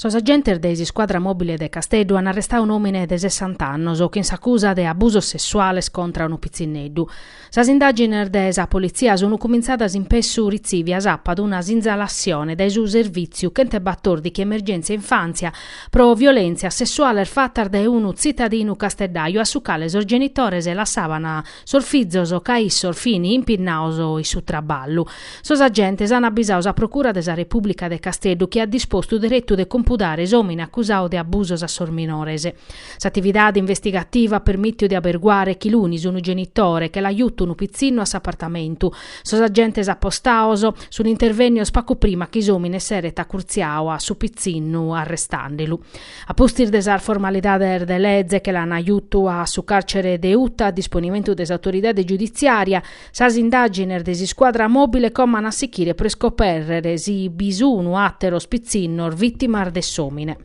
Sos agentes de s'iscuadra mòbile de Casteddu an arrestadu un'òmine de sessant'annos chin s'acusa de abusos sessuales contra unu pitzinneddu. Sas indàgines de sa politzia sun cumintzadas in pessu ritzivia s'apat una sinzalassione dae su Servìtziu chentebatòrdichi Emergèntzia Infàntzia pro violèntzias sessuales fatas dae unu tzitadinu casteddaju a su cale sos genitores lassaban sos fizos ca issos fin impinnados in su traballu. Sos agentes an abisadu sa Procura de sa Repùblica de Casteddu chi at dispostu deretu de compudare s'òmine acusadu de abusos a sos minores. S'atividade investigativa at permìtiu de aberguare chi lunis unu genitore che l'at jutu unu pitzinnu a s'apartamentu. Sos agentes apostados sun intervènnidos pagu prima chi s'òmine s'eret acurtziadu a su pitzinnu arrestàndelu. A pustis de sas formalidades de leze che l'an jutu a su càrcere de Uta a disponimentu de s'autoridade giuditziària, sas indàgines de s'iscuadra mòbile como an a sichire pro iscopèrrere si bi sunu àteros pitzinnos vìtimas de s'òmine.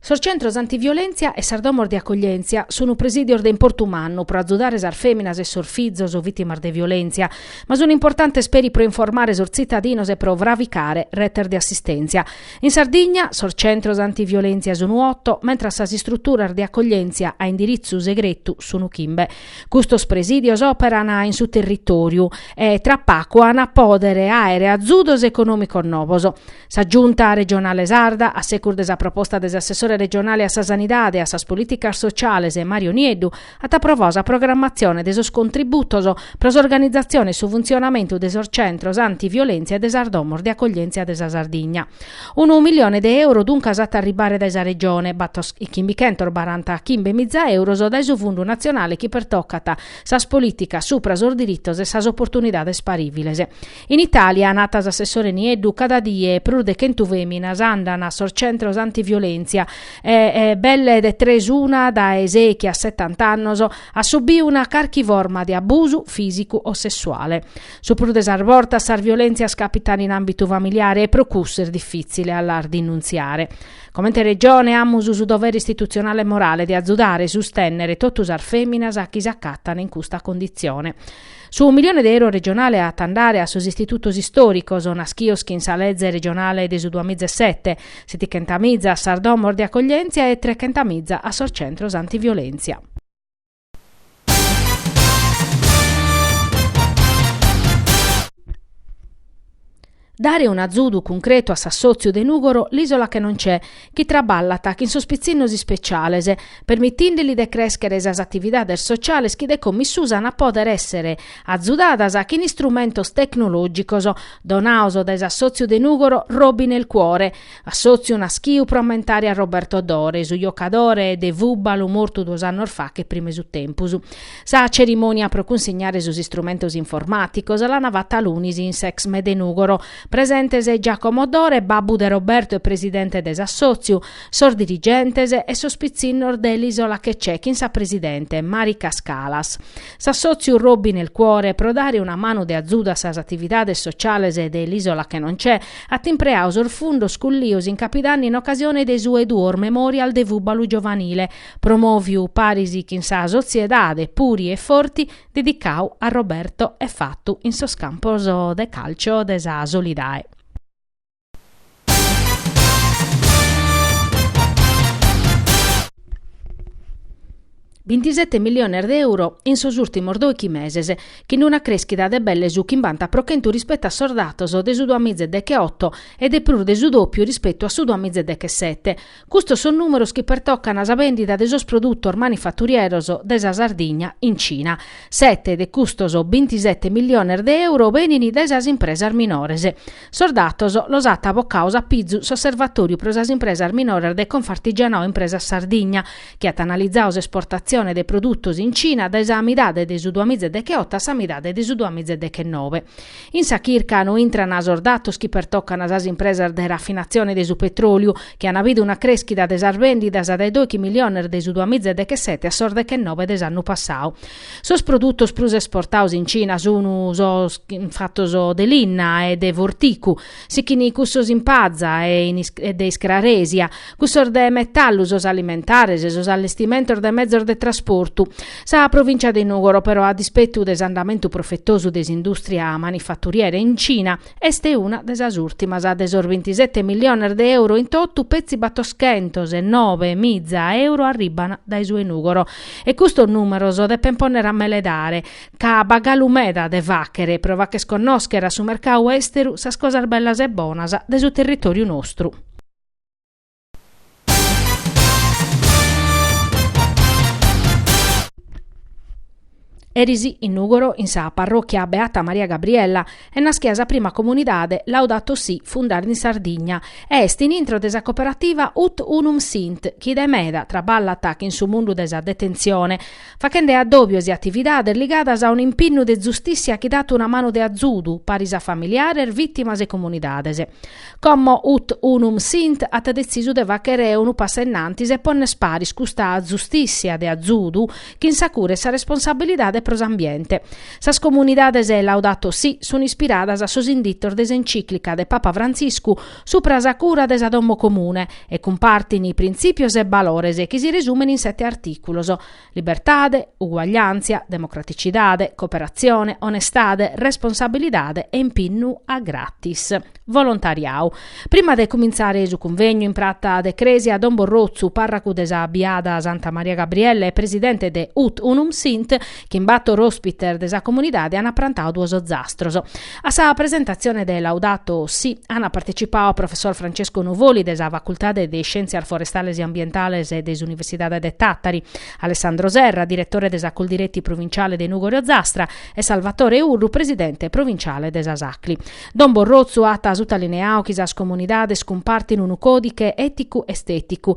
Sos centros antiviolèntzia e sas domos de acoglièntzia sunt presìdios de importu mannu pro azudare sas fèminas e sos fizos vìtimas de violèntzia, ma sunt importantes peri pro informare sos tzitadinos e pro fravicare retes de assistèntzia. In Sardigna, sos centros antiviolèntzia sunt oto, mentres sas istruturas de acoglièntzia a indiritzu segretu sunt chimbe. Custos presìdios òperan in su territòriu e tra pagu ant a pòdere àere azudos econòmicos novos. Sa Giunta regionale sarda, a secus de sa proposta de s'assessore regionale a sa Sanidade e a sas Polìticas Sociales Mario Nieddu, at aprovadu sa programmatzione de sos contributos pro s'organizatzione e su funtzionamentu de sos centros antiviolèntzia e de sas domos de acoglièntzia de sa Sardigna. Unu milione de euro duncas at a arribare dae sa Regione, batos e chimbichentos baranta chimbe miza euros dae su fundu natzionale chi pertocat sas polìticas supra sos diritos e sas oportunidades parìviles. In Itàlia, nat s'assessore Nieddu, cada die prus de chentu fèminas andant a sos centros antiviolèntzia e belle de tres una dae sechi a setant'annos at subiu una carchi forma de abusu fìsicu o sessuale. Su prus de sas bortas sas violèntzias càpitan in àmbitu familiare e pro cussu est difìtzile a las dinuntziare. Comente Regione amus su dovere istitutzionale e morale de azudare e sustènnere totu sas fèminas chi s'acatan in custa conditzione. Su milione de euro regionale at a andare a sos istitutos istòricos, nàschidos chin sa leze regionale de su duamiza e sete, setichentamiza a sas domos de acoglièntzia e trechentamiza a sos centros antiviolèntzia. Dare un'azudu cuncretu a s'assòtziu de Nùgoro L'Isola che non c'è, chi traballat chin sos pitzinnos ispeciales, permitìndeli de crèschere sas atividades sociales chi de commissùs an a pòdere èssere azudadas chin istrumentos tecnològicos donados dae s'assòtziu de Nùgoro Robi nel Cuore, Assòtziu naschiu pro ammentare a Roberto Dore, su jocadore de fùbalu mortu duos annos faghe prima 'e su tempus. Sa cerimònia pro cunsignare sos istrumentos informàticos l'ana fata lunis in s'Exme de Nùgoro. Presentes Giacomo Dore, babbu de Roberto e presidente de s'assòtziu, sos dirigentes e sos pitzinnos de l'Isola che c'è chin sa presidente, Marica Scalas. S'assòtziu Robi nel Cuore pro dare una manu de azudu a sas atividades sociales de l'Isola che non c'è, At impreadu sos fundos cullios in Capidanni in ocasione de su 'e duos Memorial de fùbalu giovanile, promòviu paris chin sa Sotziedade Puri e Forti dedicadu a Roberto e fatu in sos campos de càlcio de sa Solidae. Bintisete milliones de euro in sos ùrtimos doichi meses, chin una crèschida de belle su chimbanta pro chentu rispetu a sos datos de su duamize deghe oto e de prus de su dòpiu rispetu a su duamize deghe sete. Custos sos nùmeros chi pertocan sa bèndida de sos produtos manifaturieros de sa Sardigna in Cina. Sete de custos bintisete milliones de euro benini dae sas impresas minores. Sos datos los at bocados a pizu s'Osservatóriu pro sas impresas minoras de Confartigianao Impresas Sardigna, chi at analizadu s'esportatzione de produtos in Cina dae sa midade de su duamiza e decheoto a sa midade de su duamiza e dechenobe. In sa chirca no intrana sos datos chi pertocana sas impresas de rafinatzione de su petròliu, chi ana bidu una crèschida de sas bèndidas dae doichi miliones de su duamiza e dechesete a sos dechenobe de s'annu passadu, Sos produtos prus esportados in Cina sun sos fatos de linna e de forticu, sighin cussos in paza e de iscraresia, cussos de metallu, sos alimentares, sos allestimentos de mezos de trasportu. Sa provìncia de Nùgoro, però, a dispetu de s'andamentu profetosu de s'indùstria manifaturiera in Cina, Est una de sas ùrtimas de sos bintisete milliones de euro in totu, petzi battoschentos e nobe miza euro arribban dae su 'e Nùgoro. E custos nùmeros depen pònnere a meledare, ca b'at galu meda de fàghere pro fagher connòschere a su mercadu èsteru sas cosas bellas e bonas de su territòriu nostru. Eris in Nùgoro, in sa parròchia Beata Maria Gabriella, est naschida sa prima comunidade Laudato Si fundada in Sardigna e est in intro de sa coperativa Ut Unum Sint chi de meda traballat chin su mundu de sa detentzione, fachende addòbios e atividades ligadas a un'impinnu de zustìssia chi dat una manu de azudu paris a familiares, vìtimas e comunidades. Como ut unum sint at detzisu de fàghere unu passu in antis e pònnere paris custa zustìssia de azudu chin sa cura e sa responsabilidade pro s'ambiente. Sas comunidades Laudato Si sun ispiradas a sos inditos de s'encìclica de Papa Frantziscu Supra sa cura de sa domo comune e cumpartin printzìpios e balores chi si resumen in sete artìculos, libertade, uguagliàntzia, democraticidade, cooperatzione, onestade, responsabilidade e impinnu a gratis. Volontariau. Prima de cumintzare su convegnu in prata de crèsia Don Borrotzu, pàrracu de sa biada Santa Maria Gabriella e presidente de Ut Unum Sint, chin bator ospites de sa comunidade ant prantadu duos zastros. A sa presentatzione de Laudato Si ant partecipadu professor Francesco Nuvoli de sa Facultade de Iscièntzias Forestales e Ambientales de s'Universidade de Tàtari, Alessandro Serra, diretore de sa Coldiretti provinciale de Nùgori Ozastra e Salvatore Urru, presidente provinciale de sas Acli. Don Borrozzu at sutalineadu chi sas comunidades cumpartint unu còdiche èticu-estèticu